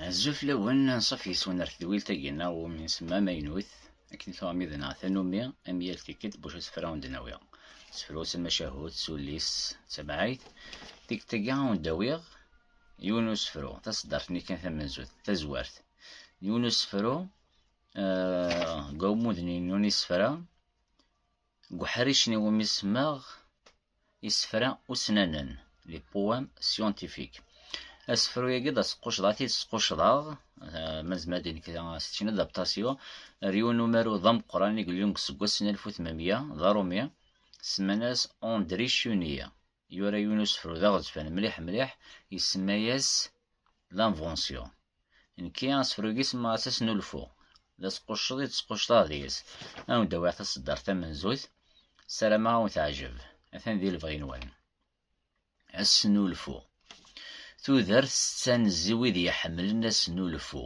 Azul fell-awen, anṣuf yes-wen ar tedwilt-agi neɣ iwumi nsemma amaynut, akken tuɣ amid neɣ tanumi, am yal tikkelt buc asefra wen-d-nawi. Sefru-s amacahut, s ullis, d tamɛayt. Tikkelt-agi a wen-d-awiɣ yiwen usefru, taṣeddart-nni kan tamenzut, tazwart, n yiwen usefru deg wammud-nni n isefra Deg uḥric-nni iwumi semmaɣ Isefra usnanen, les poèmes scientifiques. Asefru-agi d asqucceḍ, ad t-id-squcceḍeɣ, eh, ma nezmer ad d-nekk c'est une adaptation, ar yiwen n umaru d ameqqran i yellun deg useggas n alef u tmenmiya d aṛumi, semman-as André Chenier. Yura yiwen usefru d aɣezfan mliḥ mliḥ, isemma-yas L'Invention. Nekki asefru-agi semmaɣ-as Asnulfu. D asqucceḍ i d-squcceḍeɣ deg-s. Ad wen-d-awiɣ taseddart tamenzut, ssarameɣ ad wen-teɛjeb. Atan di lebɣi-nwen. Asnulfu. Tudert tettanez i wid iḥemmlen asnulfu.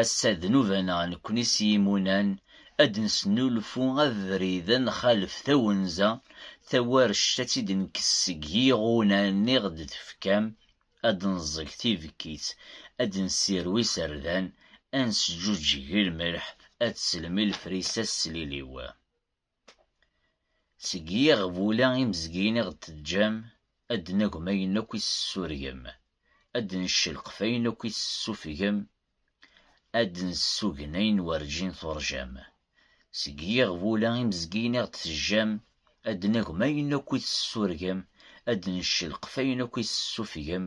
Ass-a d nnuba-neɣ nekkni s yimunan ad d-nesnulfu abrid ad nxalef tawenza, tawarect ad tt-id-nekkes seg yiɣunan i ɣ-d-tefkam, ad d-neẓẓeg tibekkit, ad d-nessirew iserdan, ad nesǧuǧǧeg lmelḥ, ad teslem i lefrisa s tliliw. Seg yiɣbula imezgiyen i ɣ-d-teǧǧam, ad d-nagem ayen akk i s-tessurgem, ad d-neccelqef ayen akk i s-tessufgem, ad d-nessugen ayen werǧin turjam. Seg yiɣbula imezgiyen i ɣ-d-teǧǧam, ad d-nagem ayen akk i s-tessurgem, ad d-neccelqef ayen akk i s-tessufgem,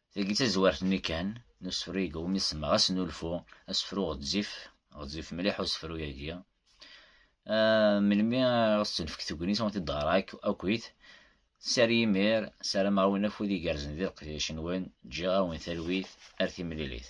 Tagi d tazwart-nni kan n usefru-agi umi semmaɣ asnulfu, asefru ɣezzif, ɣezzif mliḥ usefru-agi. Melmi ara s-tenfek tegnit ur t-id-ɣreɣ akk akkit. Sar yimir, ssarameɣ-awen afud igerrzen di leqdic-nwen, ǧǧiɣ-awen talwit ar timlilit.